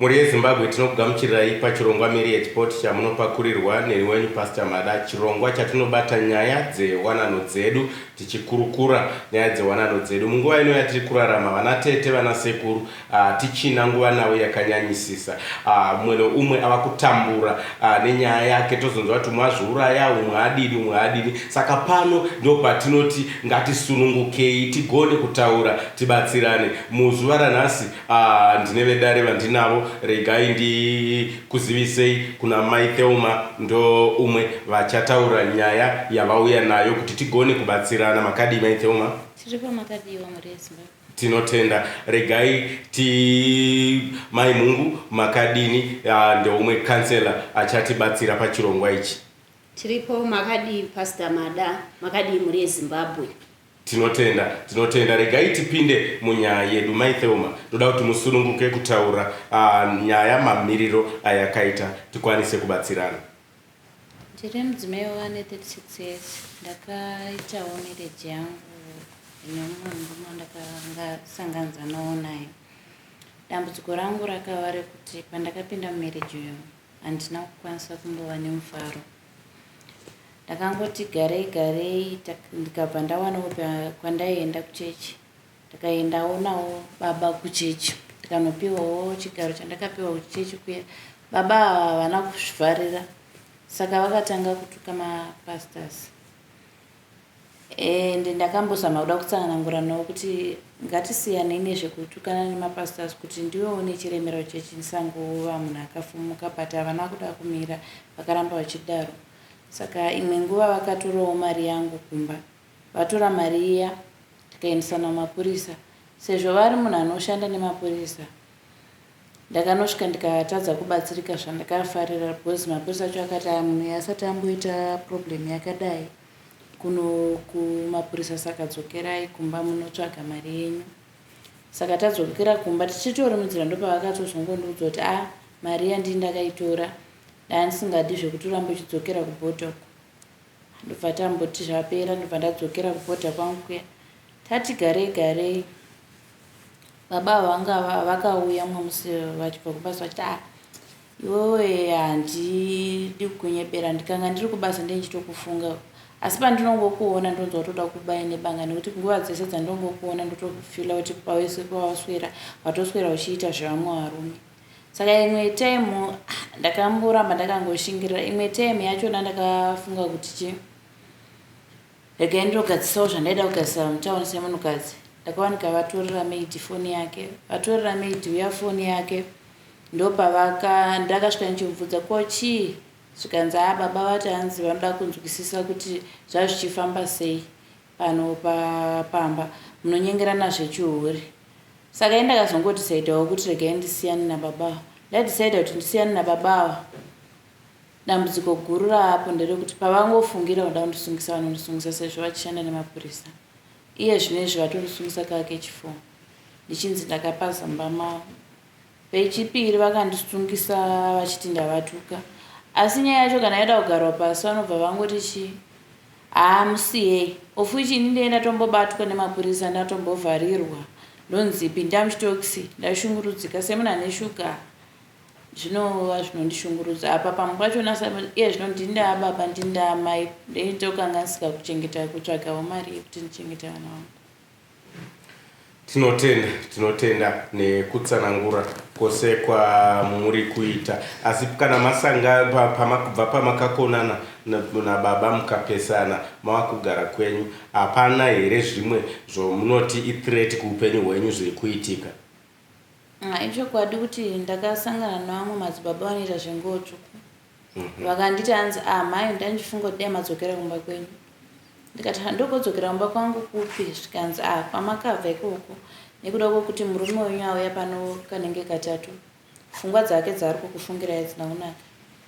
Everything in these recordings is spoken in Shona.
mhuri yezimbabwe tinokugamuchirirai pachirongwa miri yechipoti chamunopakurirwa neni wenyu pastor mada chirongwa chatinobata nyaya dzewanano dzedu tichikurukura nyaya dzewanano dzedu munguva ino yatiri kurarama vana tete vana sekuru Hatichina nguva navo yakanyanyisisa. Umwe neumwe ava kutambura nenyaya yake. Tozonzwa kuti umwe azviuraya, umwe adini, umwe adini. Saka pano ndopatinoti ngatisunungukei tigone kutaura tibatsirane. Muzuva ranhasi ndine vedare vandinavo, regai ndikuzivisei kuna Mai Thelma. Ndoumwe vachataura nyaya yavauya nayo kuti tigone kubatsirana. Makadii Mai Thelma? Tiripo, makadii vamwari veZimbabwe? Tinotenda regai ti Mai Mhungu makadini yaa ndeumwe councillor achatibatsira pachirongwa ichi. Tiripo makadii Pastor Mada makadii mhuri yeZimbabwe. Tinotenda tinotenda regai tipinde munyaya yedu Mai Thelma ndoda kuti musununguke kutaura nyaya mamiriro ayakaita tikwanise kubatsirana. Ndiri mudzimai ane 36 years ndakaitawo marriage yangu ine mumwe murume wandakanga sanganidzanawo naye. Dambudziko rangu rakava rekuti pandakapinda mumarriage uyu handina kukwanisa kumbova nemufaro. Ndakangoti garei garei ndikabva ndawanawo kwandaienda kuchechi. Ndakaendawo nawo baba kuchechi ndikanopiwawo chigaro chandakapiwa kuchechi kuya. Baba ava havana kuzvivharira saka vakatanga kutuka mapastors and ndakambozama kuda kutsanangura nawo kuti ngatisiyanei nezvekutukana nemapastors kuti ndiwe une chiremera kuchechi ndisangova munhu akafumuka but havana kuda kumira vakaramba vachidaro saka imwe nguva vakatorawo mari yangu kumba vatora mari iya tikaendesana kumapurisa sezvo vari munhu anoshanda nemapurisa ndakanosvika ndikatadza kubatsirika zvandakafarira because mapurisa acho akati aya munhu uyu asati amboita problem yakadai kuno kumapurisa saka dzokerai kumba munotsvaga mari yenyu saka tadzokera kumba tichitori munzira ndopavakatozongondiudza kuti a ah, mari yandii ndakaitora dani singadi zvekuti urambe uchidzokera kubhodhoko Ndobva tamboti zvapera ndobva ndadzokera kubhodha kwangu kuya. Tati garei garei baba ava vanga va- vakauya mumwe musi vachibva kubasa vachiti ah iwewe handidi kukunyebera ndikanga ndiri kubasa ndendichitokufunga asi pandinongokuona ndonzwa kutoda kubaya nebanga nekuti nguva dzese dzandongokuona ndotofila kuti pawese pawaswera watoswera uchiita zvevamwe varume Saka imwe time ndakamboramba ndakangoshingirira imwe time yachona ndakafunga kuti chi regai ndinogadzisawo zvandaida kugadzisa mutown semunhukadzi ndakawanika vatorera maid foni yake vatorera maid uya foni yake ndopavaka ndakasvika ndichimubvunza ko chii zvikanzi a baba vati hanzi vanoda kunzwisisa kuti zvazvichifamba sei Pano pamba munonyengerana zvechihure. Saka ini ndakazongodicidhawo kuti regai ndisiyane nababa ava. Ndadicida kuti ndisiyane nababa ava dambudziko guru raapo nderekuti pavangofungira kuda kundisungisa vanondisungisa sezvo vachishanda nemapurisa. Iye zvino izvi vatondisungisa kake chifoo ndichinzi ndakapa zambama Vechipiri vakandisungisa vachiti ndavatuka asi nyaya yacho kana yoda kugarwa pasi vanobva vangoti chii haa musiyei of which ini ndee ndatombobatwa nemapurisa ndatombovharirwa ndonzi pinda muchitokisi ndashungurudzika semunhu ane shuga zvinova zvinondishungurudza apa pamwe pacho iye zvino ndindaa baba ndindaa mai ndeitokanganisika kuchengeta kutsvagawo mari yekuti ndichengete vana vangu Tinotenda, tinotenda nekutsanangura kwose kwamuri kuita. Asi kana masanga pa- pama- kubva pamakakonana na- nababa mukapesana mava kugara kwenyu, hapana here zvimwe zvomunoti ithreat kuupenyu hwenyu zviri kuitika? Ah, ichokwadi kuti ndakasangana nevamwe madzibaba vanoita zvenguo tsvuku mhm. vakanditi hanzi ah mhai ndandichifunga kuti dai madzokera kumba kwenyu ndikati handokodzokera kumba kwangu kupi zvikanzi ah kwamakabva ikoko nekuda kwokuti murume wenyu auya pano kanenge katatu pfungwa dzake dzaari kukufungirai dzina kunaka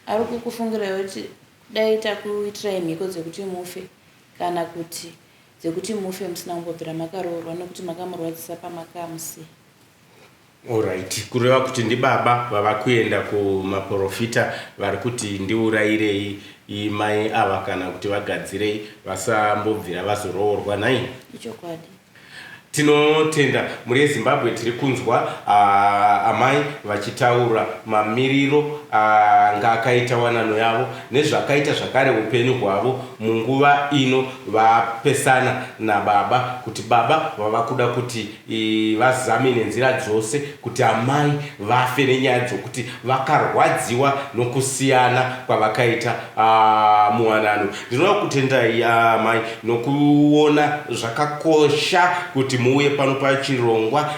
ari kukufungirai kuti dai takuitirai mhiko dzekuti mufe kana kuti dzekuti mufe musina kumbobvira makaroorwa nekuti makamurwadzisa pamakamusiya Alright, kureva kuti ndibaba vava kuenda kumaporofita vari kuti ndiurayirei i- mai ava kana kuti vagadzirei vasambobvira vazoroorwa nhai? Ichokwadi. Tinotenda mhuri yeZimbabwe tiri kunzwa amai vachitaura mamiriro anga akaita wanano yavo nezvakaita zvakare upenyu hwavo munguva ino vapesana nababa kuti baba vava kuda kuti vazame nenzira dzose kuti amai vafe nenyaya dzokuti vakarwadziwa nokusiyana kwavakaita muwanano Ndinoda kukutendai amai nokuona zvakakosha kuti muuye pano pachirongwa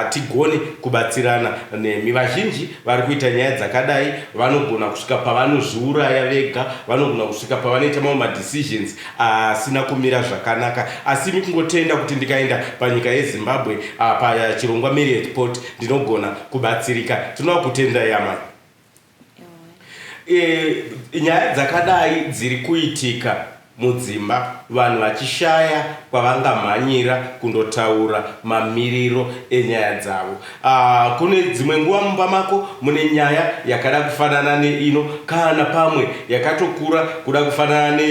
tigone kubatsirana nemi. Vazhinji vari kuita nyaya dzakadai vanogona kusvika pavanozviuraya vega, vanogona kusvika pavanoita mamwe madecisions asina kumira zvakanaka. Asi imi kungotenda kuti ndikaenda panyika yeZimbabwe pachirongwa Marriage Port ndinogona kubatsirika. Tinoda kukutendai amai. e, nyaya dzakadai dziri kuitika mudzimba vanhu vachishaya kwavangamhanyira kundotaura mamiriro enyaya dzavo uh, kune dzimwe nguva mumba mako mune nyaya yakada kufanana neino kana pamwe yakatokura kuda kufanana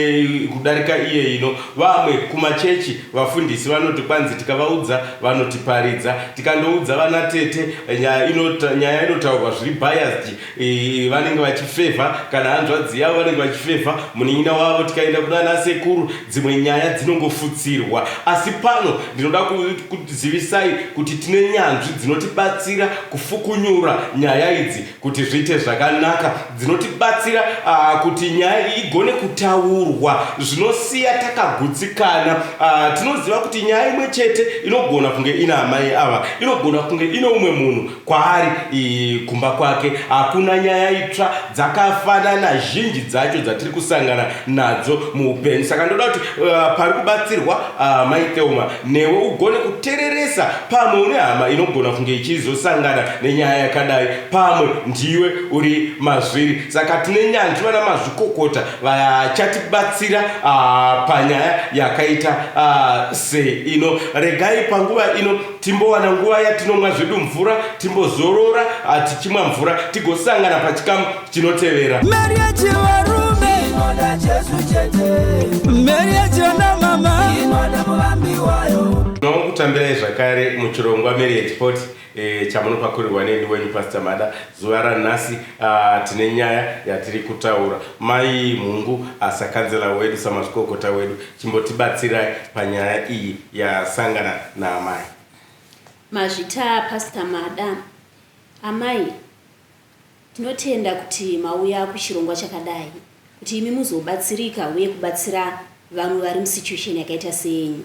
kudarika iye ino vamwe kumachechi Vafundisi vanoti kwanzi tikavaudza vanotiparidza. Tikandoudza vana tete nyaya inota, nyaya inotaurwa zviri biased eh, vanenge vachifevha kana hanzvadzi yavo vanenge vachifevha munin'ina wavo. Tikaenda kunana sekuru dzimwe nyaya dzinongofutsirwa. Asi pano ndinoda ku- kuzivisai kuti tine nyanzvi dzinotibatsira kufukunyura nyaya idzi. kuti zviite zvakanaka dzinotibatsira uh, kuti nyaya igone kutaurwa zvinosiya takagutsikana uh, tinoziva kuti nyaya imwe chete inogona kunge ina amai ava inogona kunge ine umwe munhu kwaari kumba kwake hakuna uh, nyaya itsva dzakafanana zhinji dzacho dzatiri kusangana nadzo muupenyu saka ndoda kuti uh, pari kubatsirwa uh, mai theuma newe ugone kutereresa Pamwe une hama inogona kunge ichizosangana nenyaya yakadai. Pamwe ndiwe uri mazviri. Saka tine nyanzvi vana mazvikokota vachatibatsira ah, panyaya yakaita ah, seino. Regai panguva ino timbowana nguva yatinomwa zvedu mvura, timbozorora ah, tichimwa mvura, tigosangana pachikamu chinotevera. Meri yechivarume inoda Jesu chete. Meri yechivana mama inoda muvambi wayo. Tinokutambirai zvakare muchirongwa Meri yechipoti eh, chamunopakurirwa neni wenyu Pastor Mada. Zuva ranhasi ah, tine nyaya yatiri kutaura. Mai Mhungu asakanzela ah, wedu samazvikokota wedu chimbotibatsirai panyaya iyi yasangana naamai. Mazvita Pastor Mada. Amai Tinotenda kuti mauya kuchirongwa chakadai kuti imi muzobatsirika uye kubatsira vamwe vari musituation yakaita seyenyu.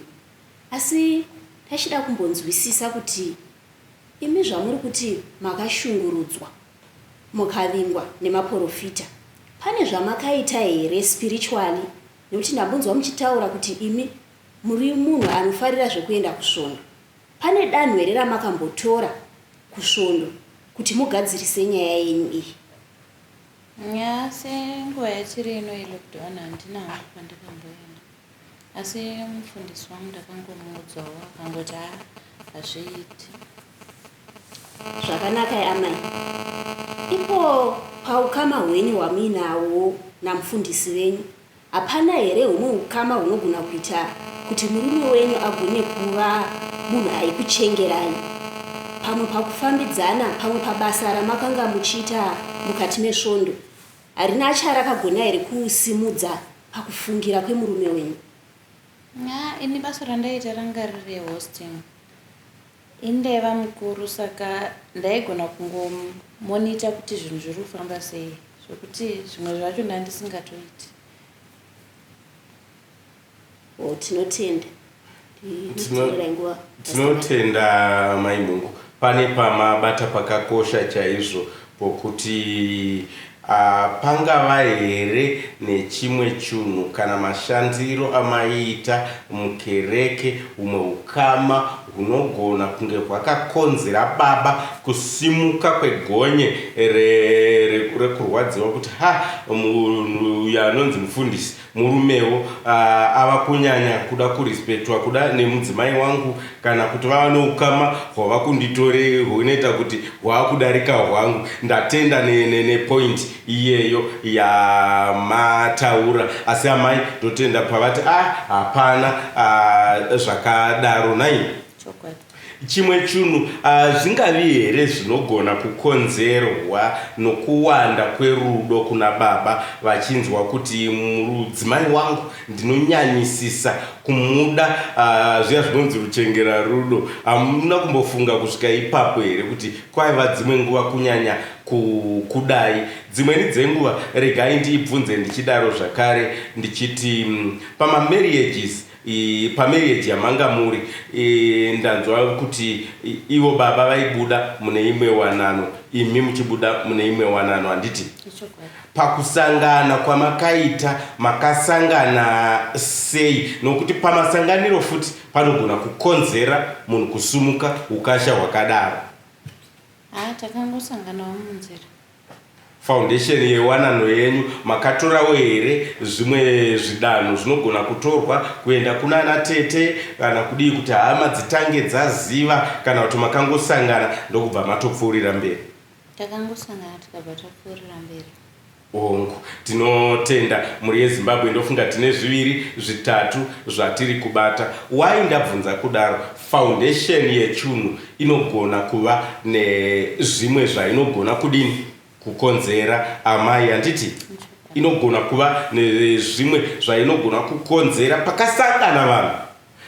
Asi tachida kumbonzwisisa kuti imi zvamuri kuti makashungurudzwa mukavingwa nemaporofita pane zvamakaita here spiritually nekuti ndambonzwa muchitaura kuti imi muri munhu anofarira zvekuenda kusvondo. Pane danho here ramakambotora kusvondo kuti mugadzirise nyaya yenyu iyi? Asi nguva yatiri ino yelockdown handinawo kwandakamboenda. Asi mufundisi wangu ndakangomuudzawo akangoti haa hazviiti. Zvakanaka amai. Ipo paukama hwenyu hwamuinawo namufundisi venyu Hapana here humwe hukama hunogona kuita kuti murume wenyu agone kuva munhu aikuchengerai, pamwe pakufambidzana, pamwe pabasa ramakanga muchiita mukati mesvondo? Harina charakagona here kusimudza pakufungira kwemurume wenyu? Haa ini basa randaiita ranga riri rehosting. Inde bamukuru saka ndaigona kungo monitor kuti zvinhu zviri kufamba sei zvekuti zvimwe zvacho ndandisingatoiti. Oh, tinotenda. Tinotenda mai Mhungu pane pamabata pakakosha chaizvo Kuti pangava here nechimwe chunhu kana mashandiro amaiita mukereke humwe hukama hunogona kunge hwakakonzera baba kusimuka kwegonye rekurwadziwa kuti, Ha, munhu uyu anonzi mufundisi Murumewo ava kunyanya kuda kurespectwa kuda nemudzimai wangu kana kuti vava neukama hwavakunditorei hunoita kuti hwaakudarika hwangu. Ndatenda nepoint iyeyo yamataura asi amai ndotenda pavati ah hapana zvakadaro nhai. Chokwadi. Chimwe chunhu, Hazvingavi here zvinogona kukonzerwa nokuwanda kwerudo kuna baba vachinzwa kuti mudzimai wangu ndinonyanyisisa kumuda, zviya zvinonzi ruchengera rudo? Hamuna kumbofunga kusvika ipapo here kuti kwaiva dzimwe nguva kunyanya kukudai? Dzimweni dzenguva, regai ndibvunze ndichidaro zvakare ndichiti, Pamamarriages, Pamarriage yamanga muri ndanzwa kuti ivo baba vaibuda mune imwe wanano imi muchibuda mune imwe wanano handiti? Pakusangana kwamakaita makasangana sei nokuti pamasanganiro futi panogona kukonzera munhu kusumuka ukasha hwakadaro. Haa takangosanganawo munzira. Foundation yewanano yenyu makatorawo here zvimwe zvidanho zvinogona kutorwa kuenda kunana tete kana kudii kuti hama dzitange dzaziva kana kuti makangosangana ndokubva matopfuurira mberi? Takangosangana tikabva tapfuurira mberi. Hongu. Tinotenda. Mhuri yeZimbabwe ndofunga tine zviviri zvitatu zvatiri kubata. Why ndabvunza kudaro? Foundation yechunhu inogona kuva nezvimwe zvainogona kudini kukonzera amai handiti? Inogona kuva nezvimwe zvainogona kukonzera pakasangana vanhu.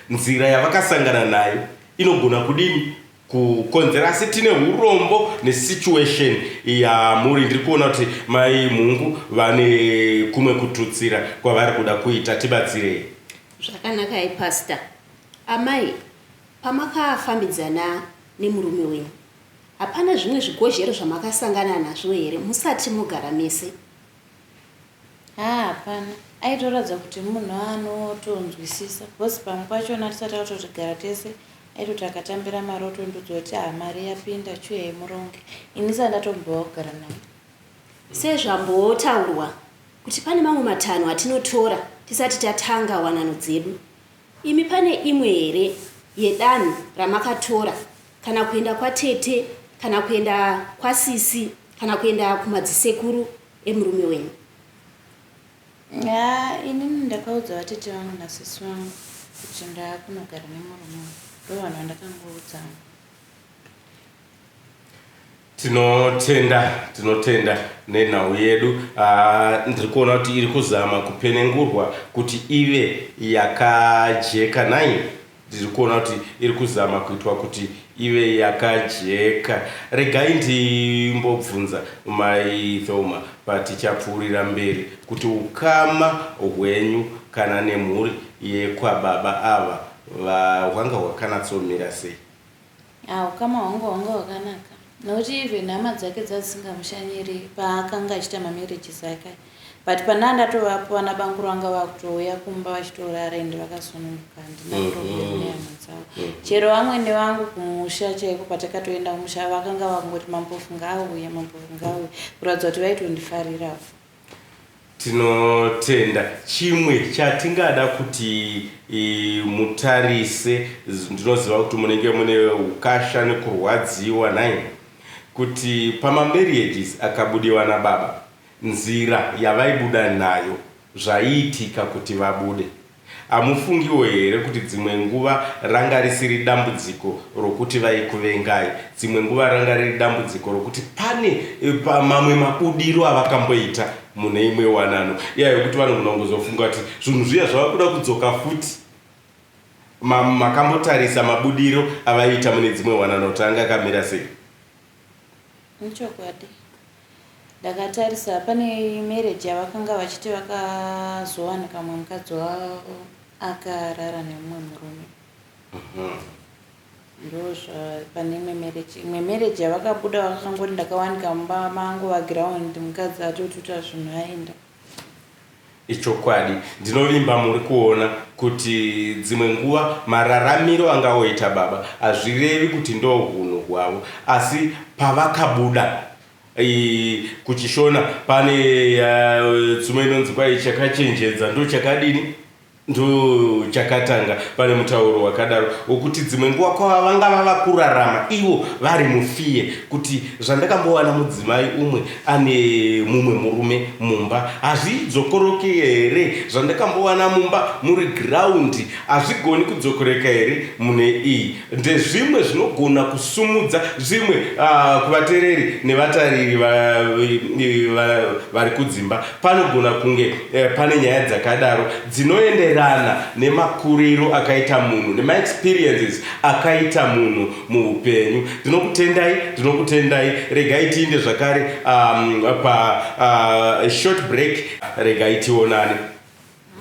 Nzira yavakasangana nayo inogona kudini kukonzera asi tine urombo nesituation yamuri ndiri kuona kuti mai mhungu vane kumwe kututsira kwavari kuda kuita tibatsirei zvakanaka i pastor Amai, pamakafambidzana nemurume wenyu hapana zvimwe zvigozhero zvamakasangana nazvo here musati mogara mese? Haa hapana, aitoratidza kuti munhu anotonzwisisa because pamwe pachona tisati tatotigara tese aitoti akatambira mari otondiudza kuti haa mari yapinda chuyai muronge ini ndisati ndatombowa kugara naye. Sezvambotaurwa kuti pane mamwe matanho atinotora tisati tatanga wanano dzedu. Imi pane imwe here yedanho ramakatora kana kuenda kwatete kana kuenda kwasisi kana kuenda kumadzisekuru emurume wenyu? Ya, inini ndakaudza vatete vangu nasisi vangu kuti ndakunogara nemurume wangu. Ndovanhu vandakangoudza. Tinotenda tinotenda nenhau yedu uh, ndiri kuona kuti iri kuzama kupenengurwa kuti ive yakajeka nai ndiri kuona kuti iri kuzama kuitwa kuti ive yakajeka regai ndimbobvunza mai thoma patichapfuurira mberi kuti ukama hwenyu kana nemhuri yekwababa ava hwanga hwakanatsomira sei Haa hukama hwangu hwanga hwakanaka nokuti even hama dzake dzadzisingamushanyiri paakanga achiita mamarriages ake but pandanga ndatovapo vana banguru vanga vakutouya kumba vachitorara ende vakasununguka handina mhm. problem nehama dzavo mhm. chero vamwene vangu kumusha chaiko patakatoenda kumusha vakanga vangoti mambofu ngaauya mambofu ngaauya kuratidza kuti vaitondifarirawo Tinotenda. Chimwe chatingada kuti mutarise, ndinoziva kuti munenge mune ukasha nekurwadziwa nhai, kuti pamamarriages akabudiwa nababa, nzira yavaibuda nayo, zvaiitika kuti vabude. Hamufungiwo here kuti dzimwe nguva ranga risiri dambudziko rokuti vaikuvengai? Dzimwe nguva ranga riri dambudziko rokuti pane mamwe mabudiro avakamboita mune imwe wanano iya yokuti vanogona kungozofunga kuti zvinhu zviya zvava kuda kudzoka futi. Makambotarisa mabudiro avaiita mune dzimwe wanano kuti anga akamira sei? Ichokwadi. Ndakatarisa pane marriage yavakanga vachiti vakazowanika mumwe mukadzi wavo akarara nemumwe murume ndozva pane imwe marriage imwe marriage yavakabuda vakangoti ndakawanika mumba mangu vaground mukadzi atotuta zvinhu aenda Ichokwadi, ndinovimba muri kuona kuti dzimwe nguva mararamiro angaoita baba hazvirevi kuti ndohunhu hwavo asi pavakabuda kuChishona pane tsumo inonzi kwai chakachenjedza ndochakadini? Ndochakatanga pane mutauro wakadaro wokuti dzimwe nguva kwava vanga vava kurarama ivo vari mufear kuti zvandakambowana mudzimai umwe ane mumwe murume mumba hazvidzokoroke here zvandakambowana mumba muri ground hazvigoni kudzokoreka here mune iyi Ndezvimwe zvinogona kusumudza zvimwe kuvatereri nevatariri vari kudzimba. Panogona kunge pane nyaya dzakadaro dzinoenderana nemakuriro akaita munhu nemaexperiences akaita munhu muhupenyu. Ndinokutendai, ndinokutendai. Regai tiinde zvakare pashort break. Regai tionane.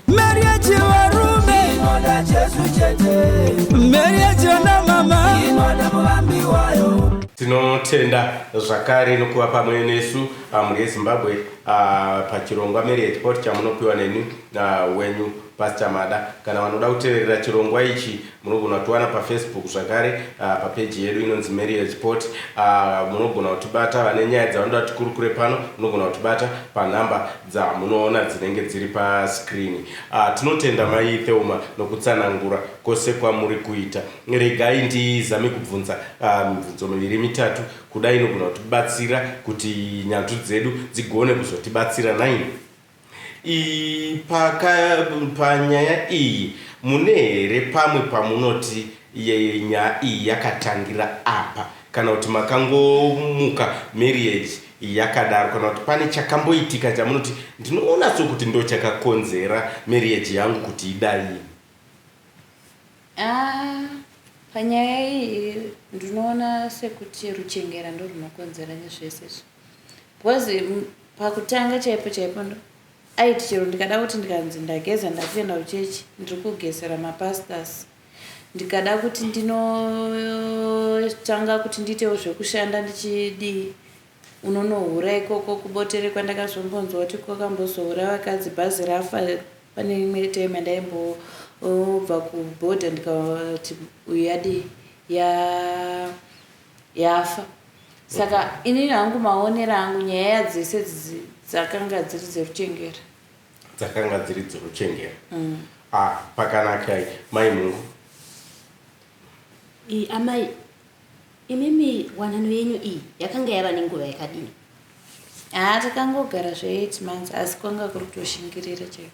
Meri yechivarume inoda Jesu chete. Meri yechivana mama inoda muvambi wayo. Tinotenda zvakare nokuva pamwe nesu ah, mhuri yeZimbabwe ah, pachirongwa Marriage Pot chamunopiwa neni ah, wenyu Pastor Mada. Kana vanoda kuteverera chirongwa ichi munogona kutiwana paFacebook zvakare ah, papeji yedu inonzi Marriage Pot. Ah, Munogona kutibata vane nyaya dzavanoda kuti tikurukure pano, munogona kutibata panhamba dzamunoona dzinenge dziri pa screen. Ahh tinotenda mai Theuma nokutsanangura kose kwamuri kuita. Regai ndizame kubvunza ahh mibvunzo miviri mitatu kudai inogona kutibatsira kuti nyanzvi dzedu dzigone kuzotibatsira nhaimi. Ii paka panyaya iyi mune here pamwe pamunoti ye nyaya iyi yakatangira apa kana kuti makangomuka marriage Yakadaro kana kuti pane chakamboitika chamunoti ndinoona sokuti ndochakakonzera marriage yangu kuti idai. Ah, panyaya iyi ndinoona sekuti ruchengera ndorwunokonzera nezvese izvi because mm, pakutanga chaipo chaipo ndo aiti chero ndikada kuti ndikanzi ndageza ndakuenda kuchechi ndiri kugezera mapastors Ndikada kuti ndinotanga kuti ndiitewo zvekushanda ndichidii unonohura ikoko kubotere kwandakazombonzwa kuti kwakambozohura vakadzi bhazi rafa pane imwe time andaimbobva kuboda ndikati uyu yadii ya yafa saka okay. inini hangu maonera angu nyaya dzese dzakanga dziri dzeruchengera dzakanga dziri dzinochengera mm. ah, pakanaka mai mungu e, amai imimi wanano yenyu iyi yakanga yava nenguva yakadini haa takangogara zve8 months asi kwanga kuri kutoshingirira chaiko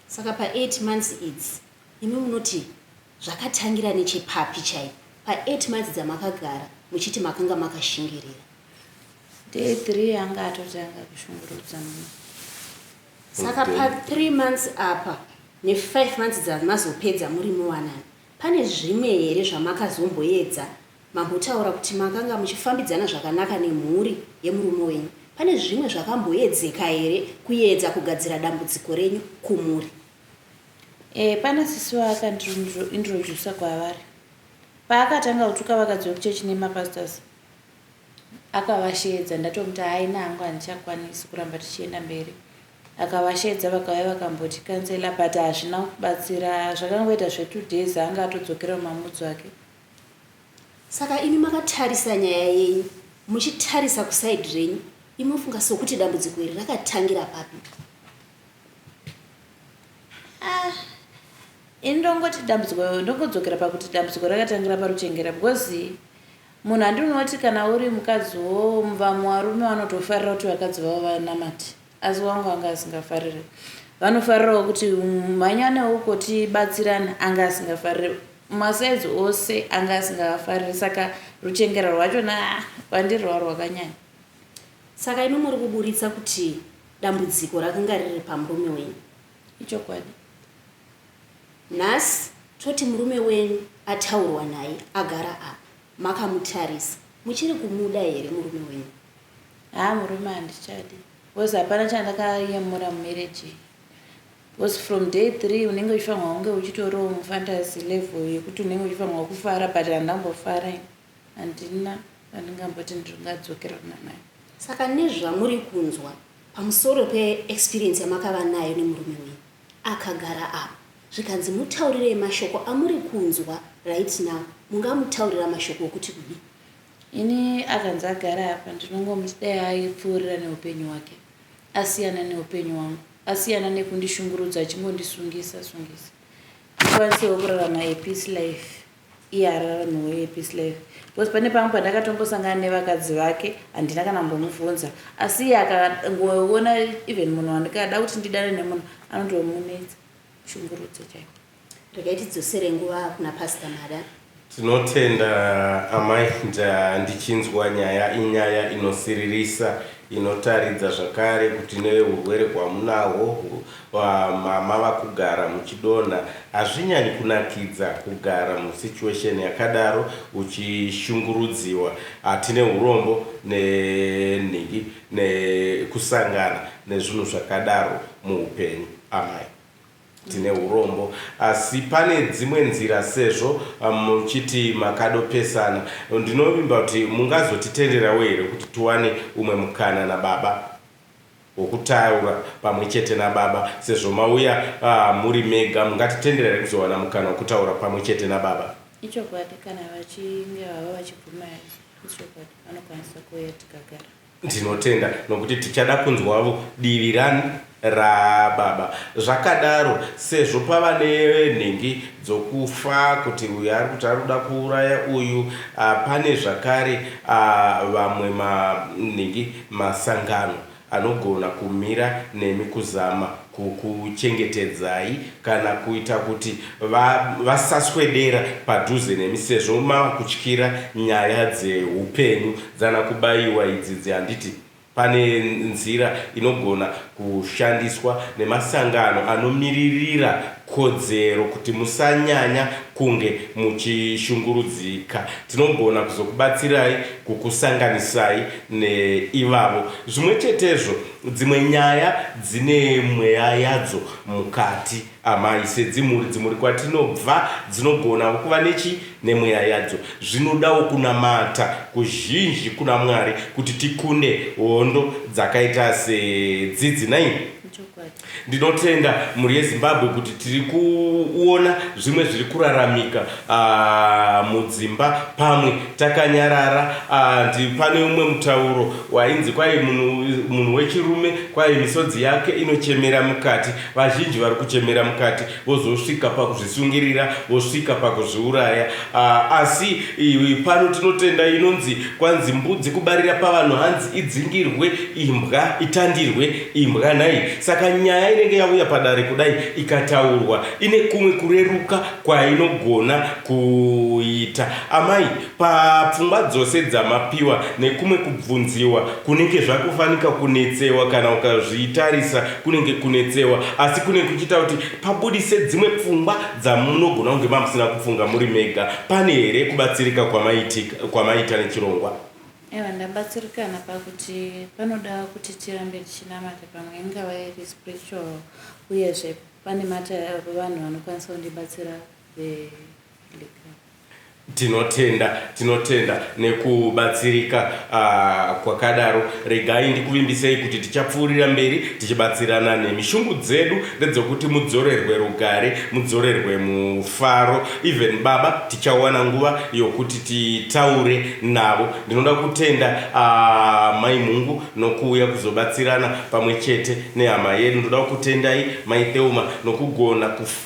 saka pa8 months idzi imi munoti Zvakatangira nechepapi chaipo pa eight months dzamakagara muchiti makanga makashingirira? Day three anga atotanga kushungurudza mumwe. Saka pa three months apa ne five months dzamazopedza muri muwanano pane zvimwe here zvamakazomboedza? Mambotaura kuti makanga muchifambidzana zvakanaka nemhuri yemurume wenyu. Pane zvimwe zvakamboedzeka here kuedza kugadzira dambudziko renyu kumhuri? Eh, pana sisi vaakandiintroducer kwavari. Paakatanga kutuka vakadzi vekuchechi nemapastors, akavasheedza ndatomuti haina hangu handichakwanisi kuramba tichienda mberi. Akavasheedza vakauya vakamboti kansela but hazvina kubatsira, zvakangoita zvetwo days anga atodzokera mumamudzo ake. Saka imi makatarisa nyaya yenyu muchitarisa kusaidi renyu, imi mufunga sokuti dambudziko iri rakatangira papi? ah, ini ndongoti dambudziko ndongodzokera pakuti dambudziko rakatangira paruchengera because munhu andinoti kana uri mukadzi wo vamwe varume vanotofarira kuti vakadzi vavo vanamati asi wangu anga asingafariri vanofarirawo kuti mhanyanewo uko tibatsirana anga asingafariri masaizi ose anga asingafariri saka ruchengera rwachona ah, kwandiri rwa rwakanyanya saka imi muri kuburitsa kuti dambudziko rakanga riri pamurume wenyu ichokwadi nhasi toti murume wenyu ataurwa naye agara apa makamutarisa muchiri kumuda here murume wenyu haa murume handichadi bcause hapana chandakayemura mumereji bcause from day three unenge uchifanirwa kunge uchitorowo mufantasi level yekuti unenge uchifanirwa kufara but handambofara ini handina pandingamboti ndingadzokerana naye. Saka nezvamuri kunzwa pamusoro peexperience yamakava nayo nemurume wenyu akagara apa zvikanzi mutaurirei mashoko amuri kunzwa right now mungamutaurira mashoko okuti kudii? Ini akanzi agara apa ndinongomuti dai aipfuurira neupenyu hwake asiyana neupenyu hwangu asiyana nekundishungurudza achingondisungisa sungisa ndikwanisewo kurarama a peace life. Iye arara nhowe yepi slave because pane pamwe pandakatombosangana nevakadzi vake handina kana kumbomuvhunza asi iye akangoona even munhu wandikada kuti ndidane nemunhu anotomunetsa shungurudzo chaiko regai tidzosere nguva kuna pasta mada tinotenda amai ndichinzwa nyaya inyaya inosiririsa inotaridza zvakare kuti neurwere hwamunahwo Aah mama vakugara muchidonha hazvinyanyi kunakidza kugara mu situation yakadaro uchishungurudziwa tine hurombo ne nhingi ne kusangana nezvinhu zvakadaro muhupenyu amai tine hurombo asi pane dzimwe nzira sezvo muchiti makado pesana ndinovimba kuti mungazotitenderawo here kuti tiwane umwe mukana na baba wokutaura pamwe chete naBaba, sezvo mauya muri mega, mungatitendera here kuzowana mukana wokutaura pamwe chete naBaba? Ichokwadi, kana vachinge vava vachibvuma, ichokwadi, vanokwanisa kuuya tikagara. Ndinotenda, nokuti tichada kunzwavo divi ra, raBaba. Zvakadaro, sezvo pava nenhingi dzokufa, kuti uyu ari kuti ari kuda kuuraya uyu, a, pane zvakare a, vamwe ma, nhingi. masangano anogona kumira nemi kuzama kukuchengetedzai kana kuita kuti vasaswedera padhuze nemi sezvo mava kutyira nyaya dzehupenyu dzana kubaiwa idzidzi handiti pane nzira inogona kushandiswa nemasangano anomiririra kodzero kuti musanyanya kunge muchishungurudzika. Tinogona kuzokubatsirai kukusanganisai neivavo. Zvimwe chetezvo, dzimwe nyaya dzine mweya yadzo mukati, amai. Sedzimhuri, dzimhuri kwatinobva dzinogonawo kuva nechi, nemweya yadzo. Zvinodawo kunamata kuzhinji kuna Mwari kuti tikunde hondo dzakaita sedzidzi. Nei? Ndinotenda mhuri yeZimbabwe kuti tiri kuona zvimwe zviri kuraramika uh, mudzimba pamwe takanyarara uh, pane umwe mutauro wainzi kwai munhu wechirume kwai misodzi yake inochemera mukati vazhinji vari kuchemera mukati vozosvika pakuzvisungirira vosvika pakuzviuraya uh, asi uh, pano tinotenda inonzi kwanzi mbudzi kubarira pavanhu hanzi idzingirwe imbwa itandirwe imbwa nhai saka nyaya inenge yauya padare kudai ikataurwa ine kumwe kureruka kwainogona kuita amai Papfungwa dzose dzamapiwa nekumwe kubvunziwa kunenge zvakufanika kunetsewa kana ukazvitarisa kunenge kunetsewa asi kunenge kuchiita kuti pabudise dzimwe pfungwa dzamunogona kunge mamusina kupfunga muri mega. Pane here kubatsirika kwamaitika kwamaita nechirongwa? Ewa ndabatsirikana pakuti panoda kuti tirambe tichinamata pamwe ingava iri spiritual uyezve pane mata vanhu vanokwanisa kundibatsira ve Tinotenda, tinotenda nekubatsirika kwakadaro. Regai ndikuvimbisei kuti tichapfuurira mberi tichibatsirana nemi. Shungu dzedu ndedzokuti mudzorerwe rugare, mudzorerwe mufaro. Even baba tichawana nguva yokuti titaure navo. Ndinoda kutenda Mai Mhungu nokuuya kuzobatsirana pamwe chete nehama yedu. Ndodawo kutendai Mai Thelma nokugona kuf.